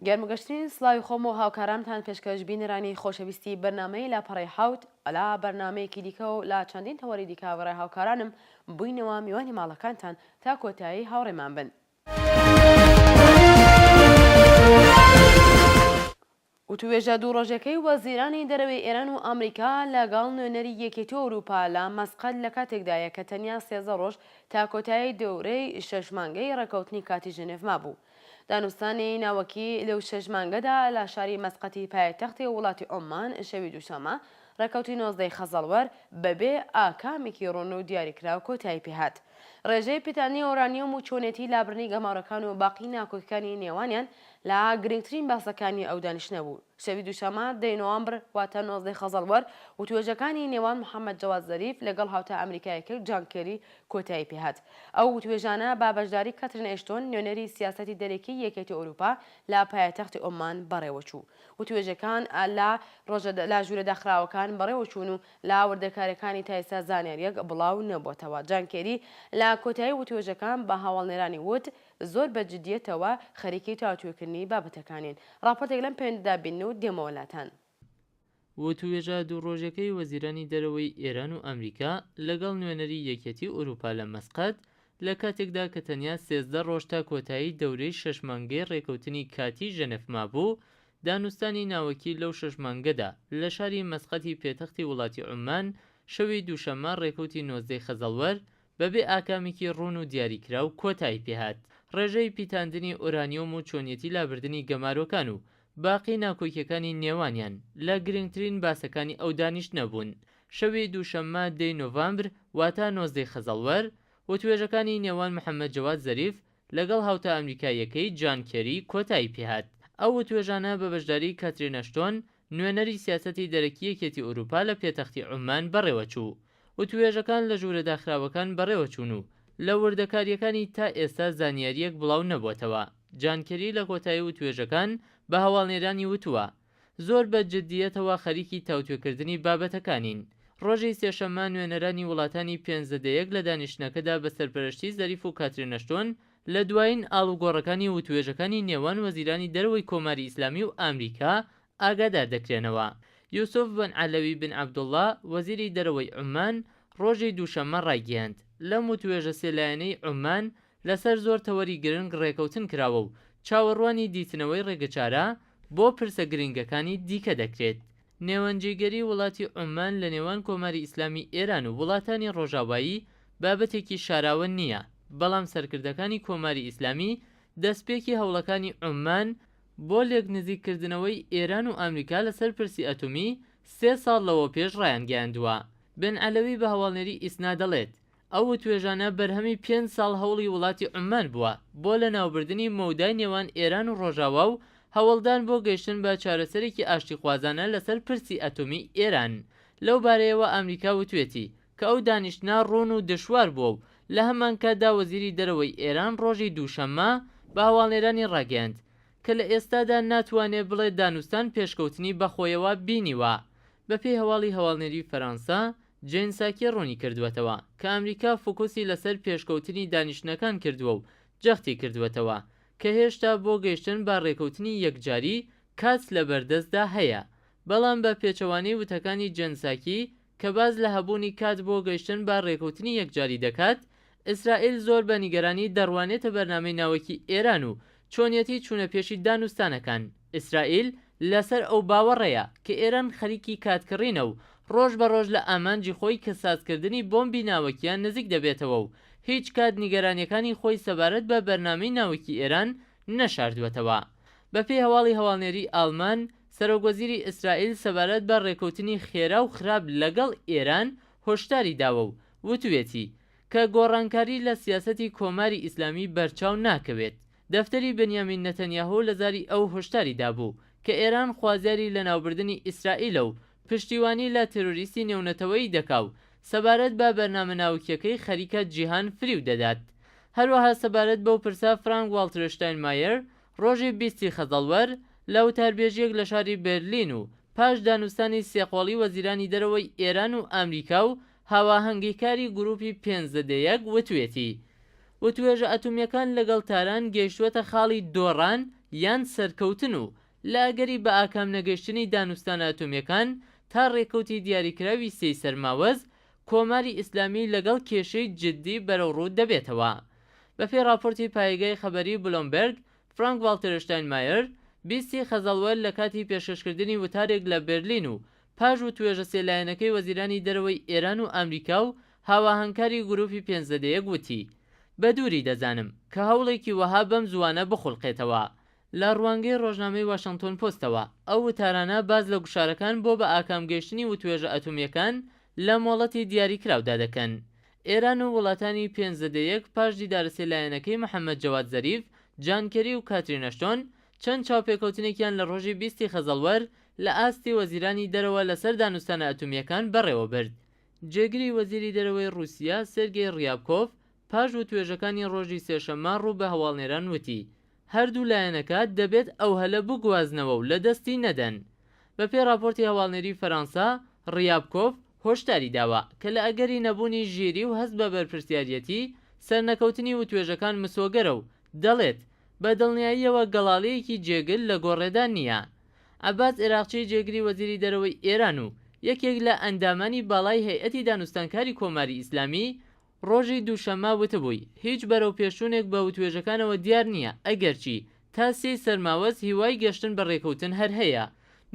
گەرمگەشتنی سلاوی خۆم و هاوکارانتان پێشکەش بینەرانی خۆشەویستی بەرنمەی لا پەڕی حوت ئەلا بەرنمەیەکی دیکە و لا چەندین تەوەری دیکاوەڕێ هاوکارانم بووینەوە میوانی ماڵەکانتان تا کۆتایی هاوڕێمان بن وتووێژە دوو ڕۆژەکەی وەزیرانی دەرەوەی ئێران و ئامریکا لەگەڵ نوێنەری یەکێتی ئەوروپا لە مەسقەت لە کاتێکدایە کە تەنیا سێزدە ڕۆژ تا کۆتایی دەورەی شەش مانگەی ڕێکەوتنی کاتی ژنێڤ مابوو. دانوستانی ناوەکی لەو شەش مانگەدا لە شاری مەسقەتی پایتەختی وڵاتی عوممان شەوی دووشەممە ڕێکەوتی نۆزدەی خەزەڵوەر بەبێ ئاکامێکی ڕوون و دیاریکراو کۆتایی پێهات. ڕێژەی پیتانی ئۆرانیۆم و چۆنێتی لابرنی گەمارۆکان و باقی ناکۆکیکانی نێوانیان لە گرنگترین باسەکانی ئەو دانیشتنە بوو. شەوی دووشەمە دەی نۆامبر واتە نۆزدەی خەزەڵوەر وتوێژەکانی نێوان محەمەد جەواد زەریف لەگەڵ هاوتا ئەمریکایەکەی جان کێری کۆتایی پێ هات. ئەو وتوێژانە بە بەشداری کاترین ئێشتۆن نوێنەری سیاسەتی دەرەکی یەکێتی ئەوروپا لە پایەتەختی عوممان بەڕێوەچوو. وتوێژەکان لە ڕۆژە لە ژوورە داخراوەکان بەڕێوەچوون و لە وردەکارییەکانی تا ئێستا زانیارییەک بڵاو نەبووەتەوە. جان کێری لە کۆتایی وتووێژەکان بە هەواڵنێرانی وت، زۆر بە جدییەتەوە خەریکی تاوتوێکردنی بابەتەکانین. ڕاپۆرتێک لەم پێوەندیدا بینن و دێمەوە لاتان. وتووێژە دوو ڕۆژەکەی وەزیرانی دەرەوەی ئێران و ئەمریکا لەگەڵ نوێنەری یەکیەتیی ئورووپا لە مەسقەت، لە کاتێکدا کە تەنیا سێزدە ڕۆژ تا کۆتایی دەورەی شەش مانگەی ڕێککەوتنی کاتیی ژەنێف مابوو، دانوستانی ناوەکی لەو شەش مانگەدا لە شاری مەسقەتی پێتەختی وڵاتی عوممان شەوی دووشەممە ڕێکەوتی نۆزدەی خەزەڵوەر بەبێ ئاکامێکی ڕوون و دیاریکراو کۆتایی پێهات ڕێژەی پیتاندنی ئۆرانیۆم و چۆنیەتی لابردنی گەمارۆکان و باقی ناکۆکیەکانی نێوانیان لە گرنگترین باسەکانی ئەو دانیشتنە بوون شەوی دووشەممە دەی نۆڤامبر واتە نۆزدەی خەزەڵوەر وتوێژەکانی نێوان محەمەد جەواد زەریف لەگەڵ هاوتا ئەمریکاییەکەی جان کێری کۆتایی پێهات. ئەو وتوێژانە بە بەشداریی کاترین ئەشتۆن، نوێنەری سیاسەتی دەرەکی یەکێتی ئورووپا لە پێتەختی عوممان بەڕێوەچوو. وتووێژەکان لە ژوورە داخراوەکان بەڕێوەچوون و لە وردەکارییەکانی تا ئێستا زانیارییەک بڵاو نەبووەتەوە. جان کێری لە کۆتایی وتووێژەکان بە هەواڵنێرانی وتووە، زۆر بە جدییەتەوە خەریکی تاوتوێکردنی بابەتەکانین. ڕۆژی سێشەممە نوێنەرانی وڵاتانی پێنج زدە یەک لە دانیشتنەکەدا بە سەرپەرەشتی زەریف و کاترین ئەشتۆن لە دوایین ئاڵوگۆڕەکانی وتووێژەکانی نێوان وەزیرانی دەرەوەی کۆماری ئیسلامی و ئامریکا ئاگادار دەکرێنەوە. یوسف بن عەلەوی بن عەبدوڵڵا، وەزیری دەرەوەی عوممان، ڕۆژی دووشەممە ڕایگەیاند، لەم وتووێژە سێ لایەنەی عوممان لەسەر زۆر تەوەری گرنگ ڕێکەوتن کراوە و چاوەڕوانی دیتنەوەی ڕێگەچارە بۆ پرسە گرنگەکانی دیکە دەکرێت. نێوەندجێگەری وڵاتی عوممان لە نێوان کۆماری ئیسلامی ئێران و وڵاتانی ڕۆژاوایی بابەتێکی شاراوە نییە، بەڵام سەرکردەکانی کۆماری ئیسلامی دەستپێکی هەوڵەکانی عوممان بۆ لێکنزیک کردنەوەی ئێران و ئامریکا لەسەر پرسی ئەتومی سێ ساڵ لەوەوپێش ڕایانگەیاندووە. بن عەلەوی بە هەواڵنێری ئیسنا دەڵێت، ئەو وتوێژانە بەرهەمی پێنج ساڵ هەوڵی وڵاتی عوممان بووە بۆ لەناوبردنی مەودای نێوان ئێران و ڕۆژاوا و هەوڵدان بۆ گەیشتن بە چارەسەرێکی ئاشتیخوازانە لەسەر پرسی ئەتۆمیی ئێران. لەو بارەیەوە ئامریکا وتوێتی کە ئەو دانیشتنە ڕوون و دشوار بووە و لە هەمانکاتدا وەزیری دەرەوەی ئێران ڕۆژی دووشەممە بە هەواڵنێرانی ڕاگەیاند کە لە ئێستادا ناتوانێ بڵێ دانوستان پێشکەوتنی بەخۆیەوە بینیوە. بەپێی هەواڵی هەواڵنێری فەرانسە، جێن ساکی ڕوونیکردووەتەوە کە ئەمریکا فۆکوسی لەسەر پێشکەوتنی دانیشتنەکان کردووە و جەختیکردووەتەوە کە هێشتا بۆ گەیشتن بە ڕێکەوتنی یەکجاری کات لەبەردەستدا هەیە، بەڵام بە پێچەوانەی وتەکانی جێن ساکی کە باس لە هەبوونی کات بۆ گەیشتن بە ڕێکەوتنی یەکجاری دەکات، ئیسرائیل زۆر بە نیگەرانی دەڕوانێتە بەرنامەی ناوەکی ئێران و چۆنیەتی چوونەپێشی دانوستانەکان. ئیسرائیل لەسەر ئەو باوەڕەیە کە ئێران خەریکی کاتکڕینە و ڕۆژ بە ڕۆژ لە ئامانجی خۆی کە سازکردنی بۆمبی ناوەکییە نزیک دەبێتەوە و هیچ کات نیگەرانییەکانی خۆی سەبارەت بە بەرنامەی ناوەکی ئێران نەشاردووەتەوە. بە پێی هەواڵی هەواڵنێری ئاڵمان، سەرۆک وەزیری ئیسرائیل سەبارەت بە ڕێکەوتنی خێرا و خراپ لەگەڵ ئێران هۆشداری داوە و وتوویەتی کە گۆڕانکاری لە سیاسەتی کۆماری ئیسلامی بەرچاو ناکەوێت. دەفتەری بنیامین نەتەنیاهۆ لە زاری ئەو هۆشداری دابوو کە ئێران خوازیاری لەناوبردنی ئیسرائیلە و پشتیوانی لە تێرۆریستی نێونەتەوەیی دەکا و سەبارەت بە بەرنامە ناوکییەکەی خەریکە جیهان فریو دەدات. هەروەها سەبارەت بەو پرسە فرانک واڵتر شتاینمایەر ڕۆژی بیست ی خەزەڵوەر لە وتاربێژییەک لە شاری بێرلین و پاش دانوستانی سێ قۆڵی وەزیرانی دەرەوەی ئێران و ئامریکا و هاواهەنگیکاری گرووپی پێنج زدە یەک وتوێتی، وتوێژە ئەتومییەکان لەگەڵ تاران گەیشتووەتە خاڵی دۆڕان یان سەرکەوتن و لە ئەگەری بەئاکام نەگەشتنی دانوستانە ئەتۆمییەکان تا رێکەوتی دیاریکراوی سێی سەرماوەز، کۆماری ئیسلامی لەگەڵ کێشەی جددی بەرەوڕوو دەبێتەوە. بەپێی راپۆرتی پایگای خەبەری بلۆمبێرگ، فرانک ڤاڵتێرشتاینمایەر، بیستی خەزەڵوەر لەکاتی پێشکەشکردنی وتارێک لە بێرلین و پاش وتوێژە سێ لایەنەکەی وەزیرانی دەرەوەی ئێران و ئامریکا و هاواهەنگکاری گرووپی پێنجزەدە یەک وتی، بە دووری دەزانم کە هەوڵێکی وەها بەم زووانە بخولقێتەوە. لە ڕوانگەی ڕۆژنامەی واشنتۆن پۆستەوە، ئەو وتارانە باس لە گوشارەکان بۆ بە ئاکام گەیشتنی وتوێژە ئەتۆمییەکان لە مۆڵەتی دیاری کراودا دەکەن. ئێران و وڵاتانی پێنجزەدە یەک پاش دیدارە سێ لایەنەکەی محەممەد جەواد زەریف، جان کێری و کاترین ئەشتۆن، چەند چاوپێکەوتنێکیان لە ڕۆژی بیست ی خەزەڵوەر لە ئاستی وەزیرانی دەرەوە لەسەر دانوستانە ئەتۆمییەکان بەڕێوە برد. جێگری وەزیری دەرەوەی ڕووسیا سێرگێی ڕیابکۆڤ پاش وتوێژەکانی ڕۆژی سێشەممە ڕوو بە هەواڵنێران وتی، هەردوو لایەنەکە دەبێت ئەو هەلە بگوازنەوە و لە دەستی نەدەن. بە پێی ڕاپۆرتی هەواڵنێری فەرانسە، ڕیابکۆڤ هۆشداری داوە کە لە ئەگەری نەبوونی ژیری و هەست بە بەرپرسیاریەتی، سەرنەکەوتنی وتوێژەکان مسۆگەرە و دەڵێت، بە دڵنیاییەوە گەڵاڵەیەکی جێگر لە گۆڕێدا نییە. عەباس ئێراقچی جێگری وەزیری دەرەوەی ئێران و یەکێک لە ئەندامانی باڵای هەیئەتی دانوستانکاری کۆماری ئیسلامی، ڕۆژی دووشەممە وتبووی، هیچ بەرەوپێشچوونێک بە وتوێژەکانەوە دیار نییە، ئەگەرچی تا سێی سەرماوەز هیوای گەشتن بە ڕێکەوتن هەر هەیە.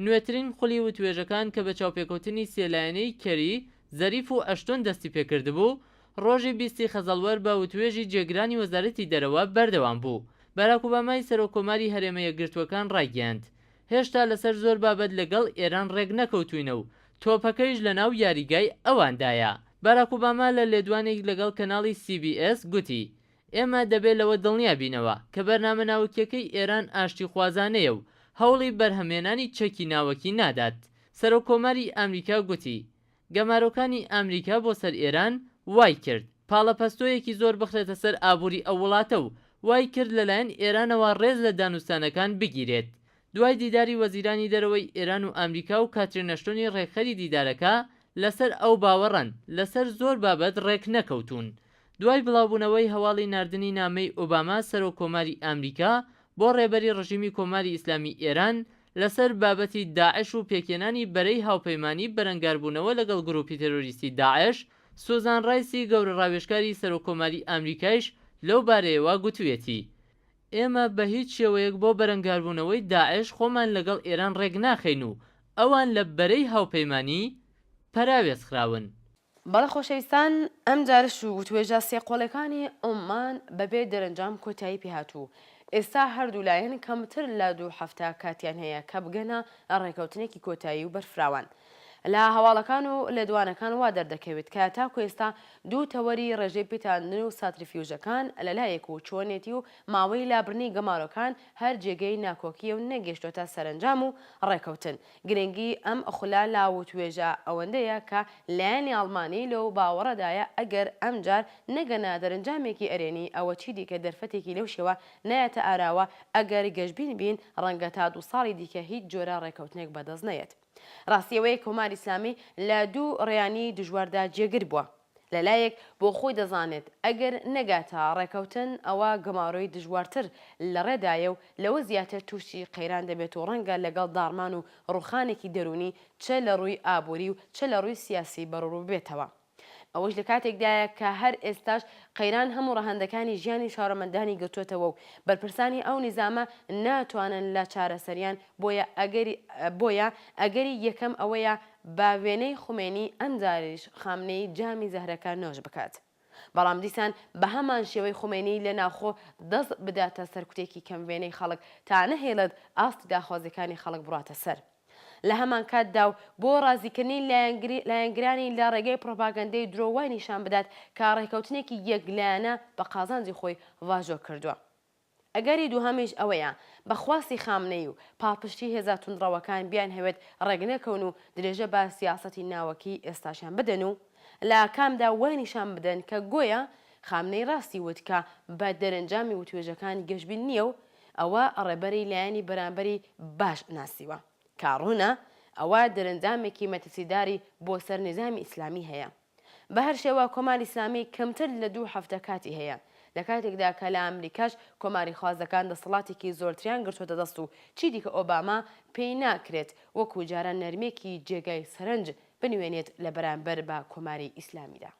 نوێترین خولی وتوێژەکان کە بە چاوپێکەوتنی سێ لایەنەی کێری، زەریف و ئەشتۆن دەستی پێکردبوو، ڕۆژی بیست ی خەزەڵوەر بە وتوێژی جێگرانی وەزارەتی دەرەوە بەردەوام بوو. باراک ئۆبامای سەرۆک کۆماری هەرێمە یەکگرتووەکان ڕایگەیاند، هێشتا لەسەر زۆر بابەت لەگەڵ ئێران ڕێک نەکەوتووینە و تۆپەکەیش لەناو یاریگای ئەواندایە. باراک ئۆباما لە لێدوانێک لەگەڵ کەناڵی سی بی ئێس گوتی، ئێمە دەبێ لەوە دڵنیا بینەوە کە بەرنامە ناوەکییەکەی ئێران ئاشتیخوازانەیە و هەوڵی بەرهەمهێنانی چەکی ناوەکی نادات. سەرۆک کۆماری ئامریکا گوتی، گەمارۆکانی ئامریکا بۆ سەر ئێران وای کرد پاڵەپەستۆیەکی زۆر بخرێتە سەر ئابووری ئەو وڵاتە و وای کرد لە لایەن ئێرانەوە ڕێز لە دانوستانەکان بگیرێت. دوای دیداری وەزیرانی دەرەوەی ئێران و ئامریکا و کاترین ئەشتۆنی ڕێکخەری دیدارەکە لە سەر ئەو باوەڕەن لە سەر زۆر بابەت ڕێک نەکەوتوون دوای بڵاوبوونەوەی هەواڵی ناردنی نامەی ئۆباما سەرۆک کۆماری ئامریکا بۆ ڕێبەری ڕژیمی کۆماری ئیسلامی ئێران لەسەر بابەتی داعش و پێکهێنانی بەرەی هاوپەیمانی بەرەنگاربوونەوە لەگەڵ گرووپی تێرۆریستی داعش، سوزان ڕایسی گەورە ڕاوێژکاری سەرۆککۆماری ئامریکایش لەو بارەیەوە گوتوویەتی، ئێمە بە هیچ شێوەیەک بۆ بەرەنگاربوونەوەی داعش خۆمان لەگەڵ ئێران ڕێک ناخەین و ئەوان لە بەرەی هاوپەیمانی پەراوێزخراون. بەڵێ خۆشەویستان ئەمجارەش و وتوێژە سێ قۆڵیەکانی عوممان بەبێ دەرەنجام کۆتایی پێهات و ئێستا هەردوولایەن کەمتر لە دوو هەفتە کاتیان هەیە کە بگەنە ڕێکەوتنێکی کۆتایی و بەرفراوان. لە هەواڵەکان و لێدوانەکان وا دەردەکەوێت کە تاکو ئێستا دوو تەوەری ڕێژەی پیتاندن و ساتریفیوژەکان لەلایەک و چۆنێتی و ماوەی لابرنی گەمارۆکان هەر جێگەی ناکۆکیە و نەگەیشتۆتە سەرەنجام و ڕێکەوتن. گرنگی ئەم خولە لە وتوێژە ئەوەندەیە کە لایەنی ئەڵمانی لەو باوەڕەدایە ئەگەر ئەمجار نەگەنە دەرنجامێکی ئەرێنی ئەوە چیدیکە دەرفەتێکی لەو شێوە نایەتە ئاراوە ئەگەر گەشبین بین ڕەنگە تا دوو ساڵی دیکە هیچ جۆرە ڕێکەوتنێک بەدەست نەیەت. ڕاستی ئەوەیە کۆماری ئیسلامی لە دوو ڕێیانی دژواردا جێگر بووە. لە لایەک بۆ خۆی دەزانێت ئەگەر نەگاتە ڕێکەوتن ئەوا گەمارۆی دژوارتر لە ڕێدایە و لەوە زیاتر تووشی قەیران دەبێت و ڕەنگە لەگەڵ داڕمان و ڕووخانێکی دەروونی چە لە ڕووی ئابووری و چە لە ڕووی سیاسی بەڕووببێتەوە. ئەوەش لە کاتێکدایە کە هەر ئێستاش قەیران هەموو ڕەهەندەکانی ژیانی شارەمەندانی گرتۆتەوە و بەرپرسانی ئەو نیزامە ناتوانن لە چارەسەریان بۆیە ئەگەری بۆیە ئەگەری یەکەم ئەوەیە بە وێنەی خومەینی ئەم جاریش خامنەیی جامی زەهرەکە نۆش بکات بەڵام دیسان بە هەمان شێوەی خومەینی لە ناوخۆ دەست بداتە سەرکوتێکی کەم وێنەی خەڵک تا نەهێڵێت ئاستی داخوازیەکانی خەڵک بڕاتە سەر لە هەمان کاتدا و بۆ ڕازیکردنی لایەنگری لایەنگرانی لە ڕێگەی پڕۆپاگەندەی درۆ وای نیشان بدات کە ڕێکەوتنێکی یەک لایەنە بە قازانجی خۆی واژۆ کردووە. ئەگەری دووهەمیش ئەوەیە بە خواستی خامنەیی و پاڵپشتی هێزە توندڕەوەکان بیانهەوێت ڕێکنەکەون و درێژە بە سیاسەتی ناوەکیی ئێستاشیان بدەن و لە ئاکامدا وای نیشان بدەن کە گۆیا خامنەیی ڕاستی وت کە بە دەرەنجامی وتوێژەکان گەشبین نییە و ئەوە ڕێبەری لایەنی بەرامبەری باش ناسیوە کە ڕوونە ئەوە دەرەنجامێکی مەترسیداری بۆ سەر نیزامی ئیسلامی هەیە. بە هەر شێوە کۆماری ئیسلامی کەمتر لە دوو هەفتە کاتی هەیە، لە کاتێکدا کە لە ئامریکاش کۆماریخوازەکان دەسەڵاتێکی زۆرتریان گرتووەتە دەست و چی دیکە ئۆباما پێی ناکرێت وەکوو جاران نەرمییەکی جێگای سەرنج بنوێنێت لە بەرانبەر بە کۆماری ئیسلامیدا.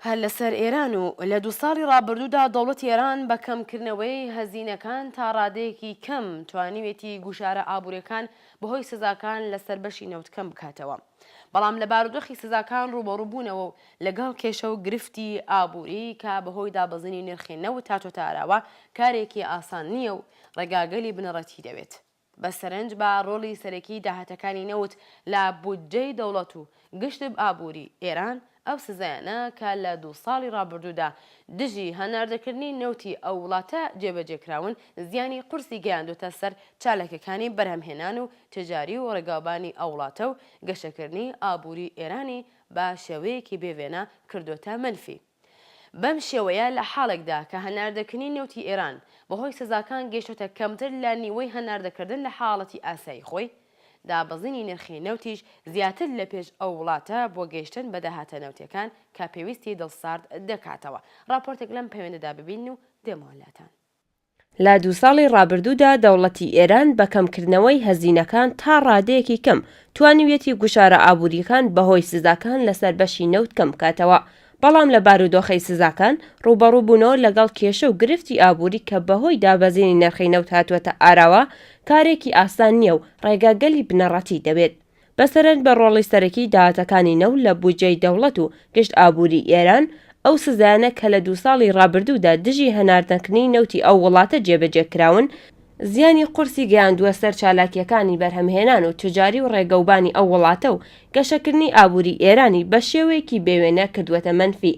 هەر لەسەر ئێران و لە دوو ساڵی ڕابردوودا دەوڵەتی ئێران بە کەمکردنەوەی هەزینەکان تا ڕادەیەکی کەم توانیوێتی گوشارە ئابووریەکان بەهۆی سزاکان لەسەر بەشی نەوت کەم بکاتەوە بەڵام لە بارودۆخی سزاکان ڕووبەڕوو بوونەوە و لەگەڵ کێشە و گرفتی ئابووری کە بەهۆی دابەزینی نرخی نەوت هاتۆتە ئاراوە کارێکی ئاسان نییە و ڕێگاگەلی بنەڕەتی دەوێت. بە سەرنج بە ڕۆڵی سەرەکیی داهاتەکانی نەوت لە بودجەی دەوڵەت و گشتب ئابووریی ئێران، ئەو سزایانە کە لە دوو ساڵی ڕابردوودا دژی هەناردەکردنی نەوتی ئەو وڵاتە جێبەجێ کراون، زیانی قورسی گەیاندووتە سەر چالاکییەکانی بەرهەمهێنان و تجاری و ڕێگاوبانی ئەو وڵاتە و گەشەکردنی ئابووریی ئێرانی بە شێوەیەکی بێ وێنە کردووەتە مەنفی. بەم شێوەیە لە حاڵێکدا کە هەناردەکردنی نەوتی ئێران بەهۆی سزاکان گەیشتۆتە کەمتر لە نیوەی هەناردەکردن لە حاڵەتی ئاسایی خۆی، دابەزینی نرخی نەوتیش زیاتر لە پێش ئەو وڵاتە بۆ گەیشتن بە داهاتە نەوتییەکان کە پێویستی دڵ سارد دەکاتەوە. ڕاپۆرتێک لەم پەیوەندەدا ببینن و دێمەوە لاتان. لە دوو ساڵی ڕابردوودا دەوڵەتی ئێران بە کەمکردنەوەی هەزینەکان تا ڕادەیەکی کەم توانیویەتی گوشارە ئابوورییەکان بەهۆی سزاکان لەسەر بەشی نەوت کەم بکاتەوە، بەڵام لە بارودۆخی سزاکان ڕووبەڕووبوونەوە لەگەڵ کێشە و گرفتی ئابووری کە بەهۆی دابەزینی نرخی نەوت هاتووەتە ئاراوە کارێکی ئاسان نییە و ڕێگاگەلی بنەڕەتی دەوێت. بە سەرنج بە ڕۆڵی سەرەکی داهاتەکانی نەوت لە بودجەی دەوڵەت و گشت ئابووری ئێران، ئەو سزایانە کە لە دوو ساڵی ڕابردوودا دژی هەناردەنکردنی نەوتی ئەو وڵاتە جێبەجێ کراون، زیانی قورسی گەیاندووە سەر چالاکییەکانی بەرهەمهێنان و تجاری و ڕێگەوبانی ئەو وڵاتە و گەشەکردنی ئابووری ئێرانی بە شێوەیەکی بێوێنە کردووەتە مەنفی.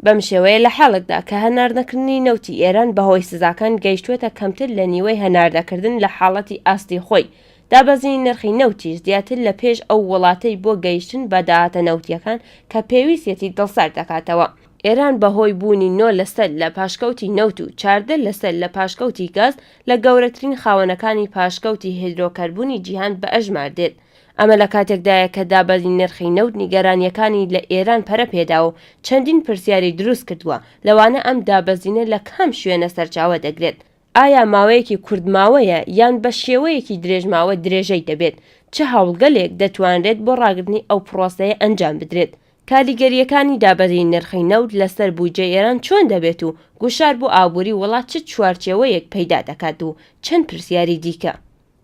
بەم شێوەیە لە حاڵێکدا کە هەناردەکردنی نەوتی ئێران بەهۆی سزاکان گەیشتووەتە کەمتر لە نیوەی هەناردەکردن لە حاڵەتی ئاستی خۆی، دابەزینی نرخی نەوتیش زیاتر لە پێش ئەو وڵاتەی بۆ گەیشتن بە داهاتە نەوتییەکان کە پێویستیەتی دڵسارد دەکاتەوە. ئێران بەهۆی بوونی نۆ لەسەد لە پاشکەوتی نەوت و چاردە لەسەد لە پاشکەوتی گاز لە گەورەترین خاوەنەکانی پاشکەوتی هیدرۆکەربونی جیهان بەئەژمار دێت، ئەمە لە کاتێکدایە کە دابەزینی نرخی نەوت نیگەرانییەکانی لە ئێران پەرە پێدا و چەندین پرسیاری دروست کردووە، لەوانە ئەم دابەزینە لە کام شوێنە سەرچاوە دەگرێت؟ ئایا ماوەیەکی کورتماوەیە یان بە شێوەیەکی درێژماوە درێژەی دەبێت؟ چ هەوڵگەلێک دەتوانرێت بۆ ڕاگرتنی ئەو پڕۆسەیە ئەنجام بدرێت؟ کاریگەرییەکانی دابەزینی نرخی نەوت لەسەر بودجەی ئێران چۆن دەبێت و گوشار بۆ ئابووری وڵات چ چوارچێوەیەک پەیدا دەکات و چەند پرسیاری دیکە.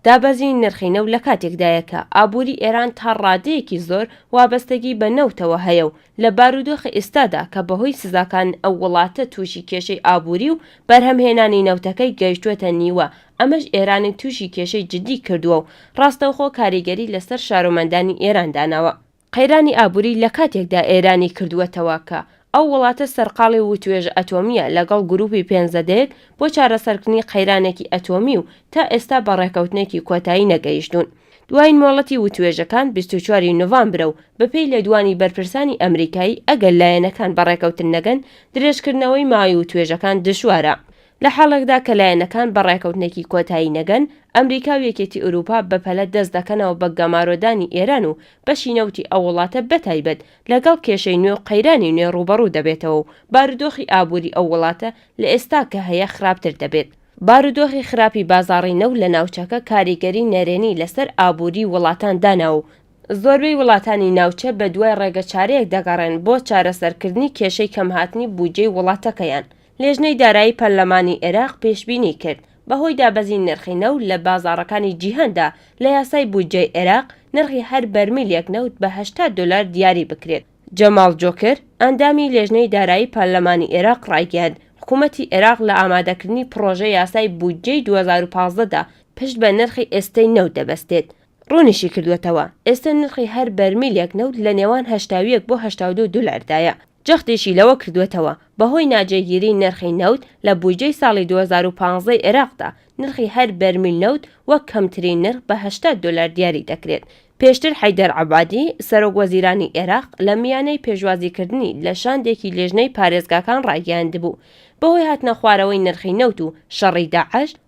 دابەزینی نرخی نەوت لە کاتێکدایە کە ئابووری ئێران تا ڕادەیەکی زۆر وابەستەگی بە نەوتەوە هەیە و لە بارودۆخی ئیستادا کە بەهۆی سزاکان ئەو وڵاتە تووشی کێشەی ئابووری و بەرهەمهێنانی نەوتەکەی گەیشتووەتە نیوە ئەمەش ئێرانی تووشی کێشەی جدی کردووە و ڕاستەوخۆ کاریگەری لەسەر شارومەندانی ئێران داناوە. قەیرانی ئابووری لە کاتێکدا ئێرانی کردووەتەوە کە ئەو وڵاتە سەرقاڵی وتوێژە ئەتۆمییە لەگەڵ گرووپی پێنجزەدەیەک بۆ چارەسەرکردنی قەیرانێکی ئەتۆمی و تا ئێستا بە ڕێککەوتنێکی کۆتایی نەگەیشتوون. دوایین مۆڵەتی وتوێژەکان بیست و چوار ی نۆڤامبرە و بەپێی لێدوانی بەرپرسانی ئەمریکایی ئەگەر لایەنەکان بە ڕێککەوتن نەگەن درێژکردنەوەی ماوەی وتوێژەکان دژوارە. لە حاڵێکدا کە لایەنەکان بە ڕێکەوتنێکی کۆتایی نەگەن، ئەمریکا و یەکێتی ئورووپا بەپەلە دەست دەکەنەوە بە گەمارۆدانی ئێران و بەشی نەوتی ئەو وڵاتە بەتایبەت لەگەڵ کێشەی نوێ و قەیرانی نوێ ڕووبەڕوو دەبێتەوە و بارودۆخی ئابووری ئەو وڵاتە لە ئێستا کە هەیە خراپتر دەبێت. بارودۆخی خراپی بازاڕی نەوت لە ناوچەکە کاریگەری نەرێنی لەسەر ئابووری وڵاتان دانا و زۆربەی وڵاتانی ناوچە بەدوای ڕێگەچارەیەک دەگەڕێن بۆ چارەسەرکردنی کێشەی کەمهاتنی بودجەی وڵاتەکەیان. لیژنەی دارایی پەرلەمانی عێراق پێشبینی کرد، بەهۆی دابەزینی نرخی نەوت لە بازاڕەکانی جیهاندا، لە یاسای بودجەی عێراق نرخی هەر بەرمیلێک نەوت بە هەشتا دۆلار دیاری بکرێت. جەماڵ جۆکر، ئەندامی لێژنەی دارایی پەرلەمانی عێراق ڕایگەیاند، حکوومەتی عێراق لە ئامادەکردنی پڕۆژە یاسای بودجەی دوو هەزار و پازدە دا پشت بە نرخی ئێستەی نەوت دەبەستێت. ڕوونیشیکردووەتەوە، ئێستە نرخی هەر بەرمیلێک نەوت لە نێوان هەشتا و یەک بۆ هەشتا و دوو دۆلاردایە. جەختیشی لەوە کردووەتەوە، بەهۆی ناجێگیریی نرخی نەوت لە بودجەی ساڵی دوو هەزار و پازدە ی عێراقدا، نرخی هەر بەرمیل نەوت وەک کەمترین نرخ بە هەشتا دۆلار دیاری دەکرێت. پێشتر حەیدەر عەبادی، سەرۆکوەزیرانی عێراق لە میانەی پێشوازیکردنی لە شاندێکی لێژنەی پارێزگاکان ڕایگەیاندبوو، بەهۆی هاتنەخوارەوەی نرخی نەوت و شەڕی داعش،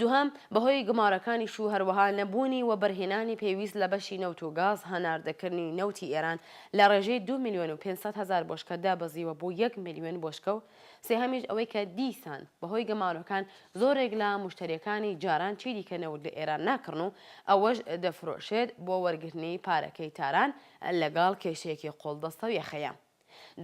دوهەم، بەهۆی گومارەکانیش و هەروەها نەبوونی وەبەرهێنانی پێویست لە بەشی نەوت و گاز هەناردەکردنی نەوتی ئێران لە ڕێژەی دوو ملیۆن و پێنج سەد هەزار بۆشکە دابەزیوە بۆ یەک ملیۆن بۆشکە و سێهەمیش ئەوەی کە دیسان بەهۆی گەمارۆکان زۆرێک لە موشتەریەکانی جاران چیدیکە نەوت لە ئێران ناکڕن و ئەوەش دەفرۆشێت بۆ وەرگرتنی پارەکەی تاران لەگەڵ کێشەیەکی قۆڵبەستەو یەخەیەم.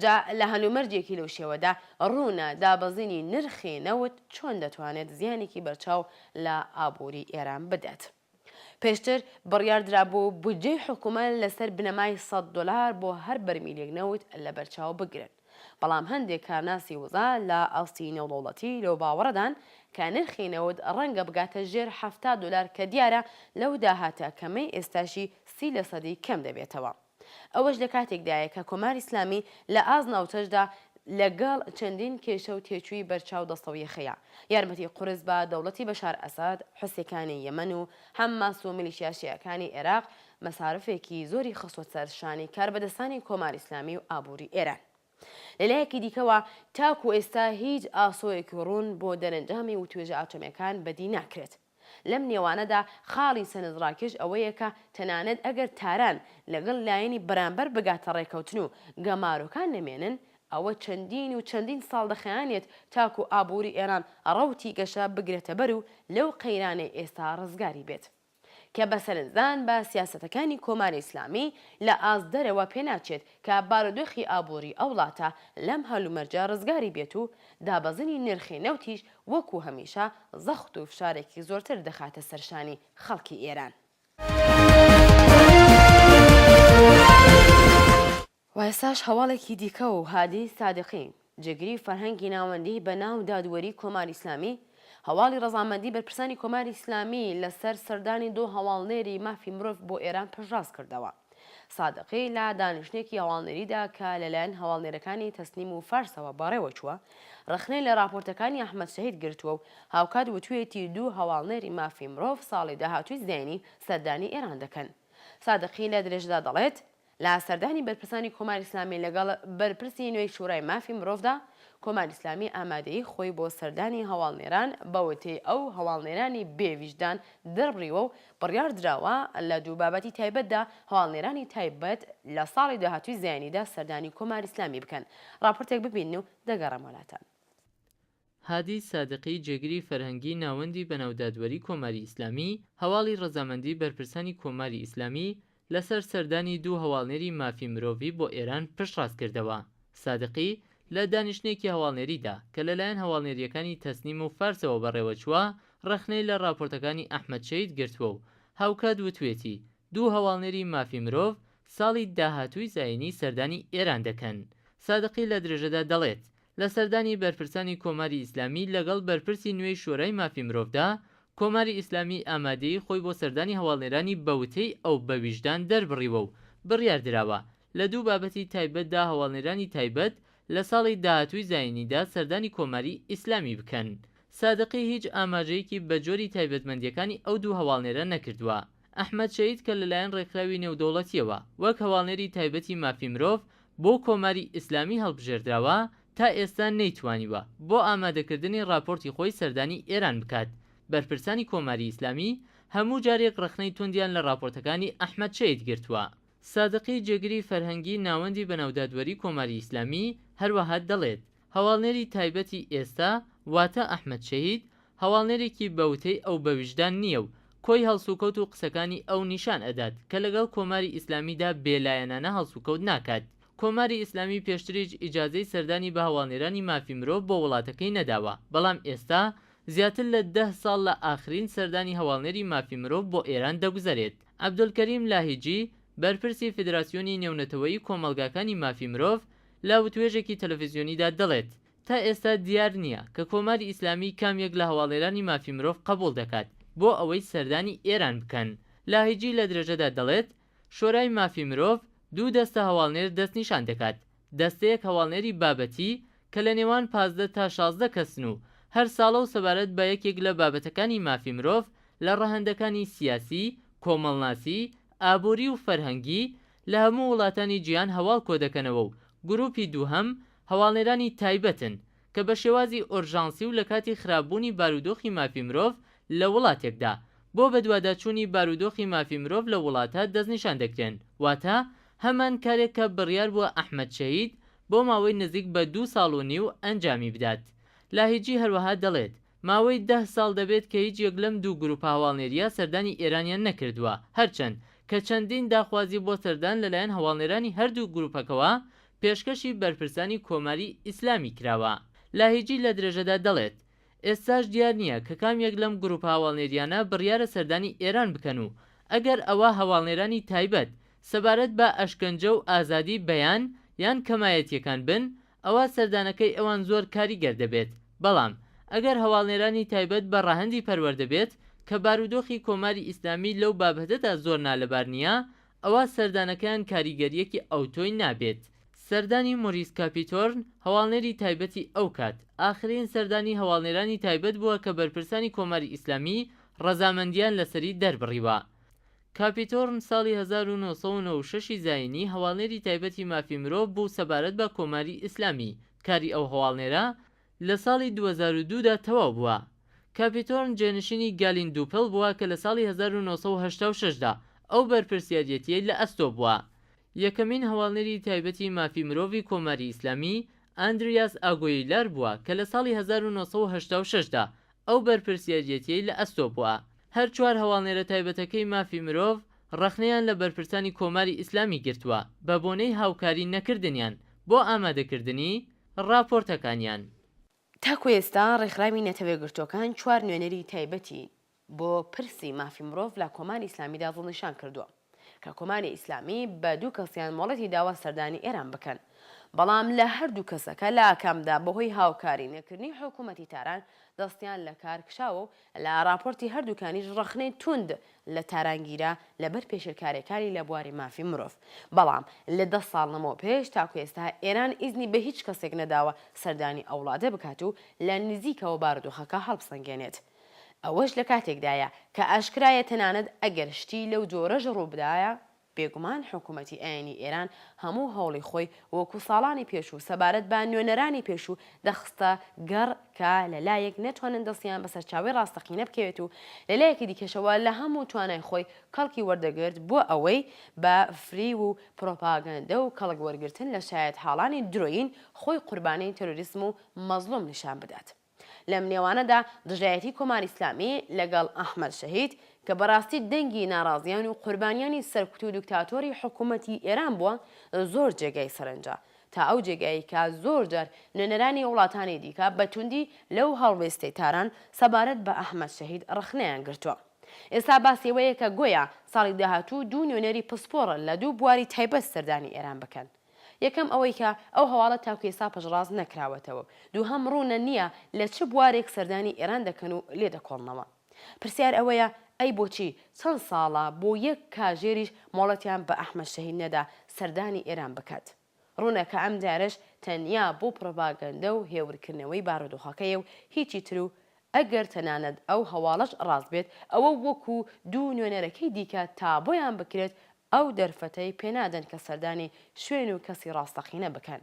جا لە هەلومەرجێکی لەو شێوەدا، ڕوونە دابەزینی نرخی نەوت چۆن دەتوانێت زیانێکی بەرچاو لە ئابووری ئێران بدات. پێشتر بڕیار درابوو بودجەی حکومەت لەسەر بنەمای سەد دۆلار بۆ هەر بەرمیلێک نەوت لەبەرچاو بگرن، بەڵام هەندێک کارناسی وزە لە ئاستی نێودەوڵەتی لەو باوەڕەدان کە نرخی نەوت ڕەنگە بگاتە ژێر حەفتا دۆلار کە دیارە لەو داهاتە کەمەی ئێستاشی سی لەسەدی کەم دەبێتەوە. ئەوەش لە کاتێکدایە کە کۆماری ئیسلامی لە ئاست ناوچەشدا لە گەڵ چەندین کێشە و تێچووی بەرچاو دەستەویەخەیە. یارمەتی قورس بە دەوڵەتی بەشار ئەسەد، حوسیەکانی یەمەن و حەمماس و میلیشیا شیعەکانی ئێراق مەسارفێکی زۆری خستوە سەر شانی کاربەدەستانی کۆماری ئیسلامی و ئابووری ئێران. لە لایەکی دیکەوە تاکوو ئێستا هیچ ئاسۆیەکی ڕوون بۆ دەرەنجامی وتوێژە ئاتۆمیەکان بەدی ناکرێت. لەم نێوانەدا خاڵی سەرنجڕاکێش ئەوەیە کە تەنانەت ئەگەر تاران لەگەڵ لایەنی بەرامبەر بگاتە ڕێککەوتن و گەمارۆکان نەمێنن، ئەوە چەندین و چەندین ساڵ دەخایەنێت تاکو ئابووری ئێران ڕەوتی گەشە بگرێتەبەر و لەو قەیرانەی ئێستا ڕزگاری بێت کە بە سەرنجدان بە سیاسەتەکانی کۆماری ئیسلامی لە ئاست دەرەوە پێناچێت کە بارودۆخی ئابووری ئەو وڵاتە لەم هەلومەرجە ڕزگاری بێت و دابەزینی نرخی نەوتیش وەکو هەمیشە زەخت و فشارێکی زۆرتر دەخاتە سەر شانی خەڵکی ئێران. و ئێستاش هەواڵێکی دیکە و هادی سادقی، جێگری فەرهەنگی ناوەندی بە ناو دادوەری کۆماری ئیسلامی، هەواڵی ڕەزامەندی بەرپرسانی کۆماری ئیسلامی لە سەر سەردانی دوو هەواڵنێری مافی مرۆڤ بۆ ئێران پشتڕاست کردەوە. سادقی لە دانیشتنێکی هەواڵنێریدا کە لەلایەن هەواڵنێرەکانی تەسنیم و فارسەوە بەڕێوەچووە، ڕەخنەی لە ڕاپۆرتەکانی ئەحمەد شەهید گرتووە و هاوکات وتوویەتی دوو هەواڵنێری مافی مرۆڤ ساڵی داهاتووی زینی سەردانی ئێران دەکەن. سادقی لە درێژەدا دەڵێت، لە سەردانی بەرپرسانی کۆماری ئیسلامی لەگەڵ بەرپرسی نوێی شورای مافی مرۆڤدا، کۆماری ئیسلامی ئامادەیی خۆی بۆ سەردانی هەواڵنێران بە وتەی ئەو هەواڵنێرانی بێ ویژدان دەربڕیوە و بڕیار دراوە لە دوو بابەتی تایبەتدا هەواڵنێرانی تایبەت لە ساڵی داهاتووی زایینیدا سەردانی کۆماری ئیسلامی بکەن. ڕاپۆرتێک ببینن و دەگەڕێم وەلاتان. هادی سادقی جێگری فەرهەنگی ناوەندی بەناو دادوەری کۆماری ئیسلامی، هەواڵی ڕەزامەندی بەرپرسانی کۆماری ئیسلامی لەسەر سەردانی دوو هەواڵنێری مافی مرۆڤی بۆ ئێران پشتڕاست کردەوە. سادقی، لە دانیشتنێکی هەواڵنێریدا کە لەلایەن هەواڵنێرییەکانی تەسنیم و فارسەوە بەڕێوەچووە، ڕەخنەی لە ڕاپۆرتەکانی ئەحمەد شەهید گرتووە و هاوکات وتوویەتی، دوو هەواڵنێری مافی مرۆڤ ساڵی داهاتووی زایینی سەردانی ئێران دەکەن. سادقی لە درێژەدا دەڵێت، لە سەردانی بەرپرسانی کۆماری ئیسلامی لەگەڵ بەرپرسی نوێی شۆرای مافی مرۆڤدا، کۆماری ئیسلامی ئامادەیی خۆی بۆ سەردانی هەواڵنێرانی بە وتەی ئەو بە ویژدان دەربڕیوە و بڕیار دراوە لە دوو بابەتی تایبەتدا هەواڵنێرانی تایبەت لە ساڵی داهاتووی زایینیدا سەردانی کۆماری ئیسلامی بکەن. سادقی هیچ ئاماژەیەکی بە جۆری تایبەتمەندییەکانی ئەو دوو هەواڵنێرە نەکردووە. ئەحمەد شەهید کە لەلایەن ڕێکخراوی نێودەوڵەتییەوە وەک هەواڵنێری تایبەتی مافی مرۆڤ بۆ کۆماری ئیسلامی هەڵبژێردراوە، تا ئێستا نەیتوانیوە بۆ ئامادەکردنی ڕاپۆرتی خۆی سەردانی ئێران بکات، بەرپرسانی کۆماری ئیسلامی هەموو جارێک ڕەخنەی توندیان لە ڕاپۆرتەکانی ئەحمەد شەید گرتووە. سادقی جێگری فەرهەنگی ناوەندی بەناو دادوەری کۆماری ئیسلامی هەروەها دەڵێت، هەواڵنێری تایبەتی ئێستا واتە ئەحمەد شەهید هەواڵنێرێکی بە وتەی ئەو بە ویژدان نییە و کۆی هەڵسوکەوت و قسەکانی ئەو نیشان ئەدات کە لەگەڵ کۆماری ئیسلامیدا بێ لایەنانە هەڵسوکەوت ناکات کۆماری ئیسلامی پێشتریش ئیجازەی سەردانی بە هەواڵنێرانی مافی مرۆڤ بۆ وڵاتەکەی نەداوە بەڵام ئێستا زیاتر لە دە ساڵ لە ئاخرین سەردانی هەواڵنێری مافی مرۆڤ بۆ ئێران دەگوزەرێت. عەبدولکەریم لاهیجی، بەرپرسی فیدراسیۆنی نێونەتەوەیی کۆمەڵگاکانی مافی مرۆڤ لە وتوێژێکی تەلەفزیۆنیدا دەڵێت، تا ئێستا دیار نییە کە کۆماری ئیسلامی کام یەک لە هەواڵنێرانی مافی مرۆڤ قەبوڵ دەکات بۆ ئەوەی سەردانی ئێران بکەن. لاهیجی لە درێژەدا دەڵێت، شۆرای مافی مرۆڤ دوو دەستە هەواڵنێر دەستنیشان دەکات، دەستەیەک هەواڵنێری بابەتی کە لە نێوان پازدە تا شازدە کەسن و هەر ساڵە و سەبارەت بە یەکێک لە بابەتەکانی مافی مرۆڤ لە ڕەهەندەکانی سیاسی، کۆمەڵناسی، ئابووری و فەرهەنگی لە هەموو وڵاتانی جیهان هەواڵ کۆدەکەنەوە و گرووپی دووهەم هەواڵنێرانی تایبەتن کە بە شێوازی ئۆرژانسی و لە کاتی خراپبوونی بارودۆخی مافی مرۆڤ لە وڵاتێکدا، بۆ بەدواداچوونی بارودۆخی مافی مرۆڤ لەو وڵاتە دەستنیشان دەکرێن، واتە هەمان کارێک کە بڕیار بووە ئەحمەد شەهید بۆ ماوەی نزیک بە دوو ساڵ و نیو ئەنجامی بدات. لاهیجی هەروەها دەڵێت، ماوەی دە ساڵ دەبێت کە هیچ یەک لەم دوو گروپە هەواڵنێرییە سەردانی ئێرانیان نەکردووە، هەرچەند کە چەندین داخوازی بۆ سەردان لەلایەن هەواڵنێرانی هەردوو گروپەکەوە پێشکەشی بەرپرسانی کۆماری ئیسلامی کراوە. لاهیجی لە درێژەدا دەڵێت، ئێستاش دیار نییە کە کام یەک لەم گروپە هەواڵنێرییانە بڕیارە سەردانی ئێران بکەن و ئەگەر ئەوا هەواڵنێرانی تایبەت سەبارەت بە ئەشکەنجە و ئازادی بەیان یان کەمایەتییەکان بن ئەوا سەردانەکەی ئەوان زۆر کاریگەر دەبێت، بەڵام ئەگەر هەواڵنێرانی تایبەت بە ڕەهەندی پەروەردە بێت، کە بارودۆخی کۆماری ئیسلامی لەو بابهتەدا زۆر نالەبار نییە، ئەوا سەردانەکەیان کاریگەرییەکی ئەوتۆی نابێت. سەردانی مۆریس کاپیتۆرن، هەواڵنێری تایبەتی ئەو کات، ئاخرین سەردانی هەواڵنێرانی تایبەت بووە کە بەرپرسانی کۆماری ئیسلامی ڕەزامەندییان لەسەری دەربڕیوە. کاپیتۆرن ساڵی هەزار و نۆ سەد و نۆ و شەش ی زایینی هەواڵنێری تایبەتی مافی مرۆڤ بوو سەبارەت بە کۆماری ئیسلامی، کاری ئەو هەواڵنێرە لە ساڵی دوو هەزار و دوو دا تەواو بووە. کاپیتۆرن جێنشینی گالین دووپل بووە کە لە ساڵی هەزار و نۆ سەد و هەشتا و شەش دا ئەو بەرپرسیاریەتیەی لە ئەستۆ بووە. یەکەمین هەواڵنێری تایبەتی مافی مرۆڤی کۆماری ئیسلامی، ئاندریاس ئاگویلار بووە کە لە ساڵی هەزار و نۆ سەد و هەشتا و شەش دا ئەو بەرپرسیاریەتیەی لە ئەستۆ بووە. هەر چوار هەواڵنێرە تایبەتەکەی مافی مرۆڤ ڕەخنەیان لە بەرپرسانی کۆماری ئیسلامی گرتووە بە بۆنەی هاوکاری نەکردنیان بۆ ئامادەکردنی ڕاپۆرتەکانیان. تاکو ئێستا ڕێکخراوی نەتەوەیەکگرتووەکان چوار نوێنەری تایبەتی بۆ پرسی مافی مرۆڤ لە کۆماری ئیسلامیدا دڵنیشان کردووە کە کۆماری ئیسلامی بە دوو کەسیان مۆڵەتی داوە سەردانی ئێران بکەن بەڵام لە هەردوو کەسەکە لە ئاکامدا بەهۆی هاوکاری نەکردنی حکوومەتی تاران دەستیان لە کار کشاوە و لە ڕاپۆرتی هەردووکانیش ڕەخنەی توند لە تاران گیرا لە بەر پێشێلکارییەکانی لە بواری مافی مرۆڤ بەڵام لە دە ساڵ لەمەو پێش تاکو ئێستا ئێران ئیزنی بە هیچ کەسێک نەداوە سەردانی ئەو وڵاتە بکات و لە نزیکەوە بارودۆخەکە هەڵبسەنگێنێت. ئەوەش لە کاتێکدایە کە ئاشکرایە تەنانەت ئەگەر شتی لەو جۆرەش ڕووبدایە، بێگومان حکوومەتی ئاینی ئێران هەموو هەوڵی خۆی وەکوو ساڵانی پێشوو سەبارەت بە نوێنەرانی پێشوو دەخستە گەڕ کە لە لایەک نەتوانن دەستیان بە سەرچاوەی ڕاستەقینە بکەوێت و لە لایەکی دیکەشەوە لە هەموو توانای خۆی کەڵکی وەردەگرت بۆ ئەوەی بە فریو و پڕۆپاگەندە و کەڵک وەرگرتن لە شایەتحاڵانی درۆیین خۆی قوربانی تێرۆریسم و مەزڵووم نیشان بدات. لەم نێوانەدا دژایەتی کۆماری ئیسلامی لەگەڵ ئەحمەد شەهید، کە بەڕاستی دەنگی ناڕازیان و قوربانیانی سەرکوت و دکتاتۆری حکوومەتی ئێران بووە، زۆر جێگای سەرنجە، تا ئەو جێگایەی کە زۆر جار نوێنەرانی وڵاتانی دیکە بە توندی لەو هەڵوێستەی تاران سەبارەت بە ئەحمەد شەهید ڕەخنەیان گرتووە. ئێستا باسی ئەوەیە کە گۆیا ساڵی داهاتوو دوو نوێنەری پسپۆڕ لە دوو بواری تایبەت سەردانی ئێران بکەن. یەکەم ئەوەی کە ئەو هەواڵە تاکو ئێستا پشتڕاست نەکراوەتەوە و دووهەم ڕوونە نییە لە چ بوارێک سەردانی ئێران دەکەن و لێ دەکۆڵنەوە. پرسیار ئەوەیە ئەی بۆچی چەند ساڵە بۆ یەک کاژێریش مۆڵەتیان بە ئەحمەد شەهید نەدا سەردانی ئێران بکات؟ ڕوونە کە ئەم جارەش تەنیا بۆ پڕۆپاگەندە و هێورکردنەوەی بارودۆخەکەیە و هیچی تر و ئەگەر تەنانەت ئەو هەواڵەش ڕاست بێت، ئەوە وەکو دوو نوێنەرەکەی دیکە تابۆیان بکرێت ئەو دەرفەتەی پێنادەن کە سەردانی شوێن و کەسی ڕاستەقینە بکەن.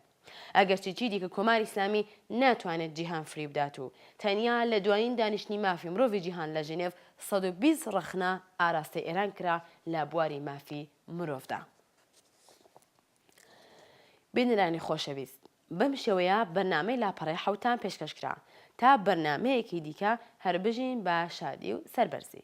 ئەگەرچی چیدیکە کۆماری ئیسلامی ناتوانێت جیهان فریوبدات و تەنیا لە دوایین دانیشتنی مافی مرۆڤی جیهان لە ژنێڤ سەد و بیست ڕەخنە ئاراستەی ئێران کرا لە بواری مافی مرۆڤدا. بینەرانی خۆشەویست. بەم شێوەیە بەرنامەی لاپەڕەی حەوتان پێشکەش کرا تا بەرنامەیەکی دیکە هەر بژین بە شادی و سەربەرزی.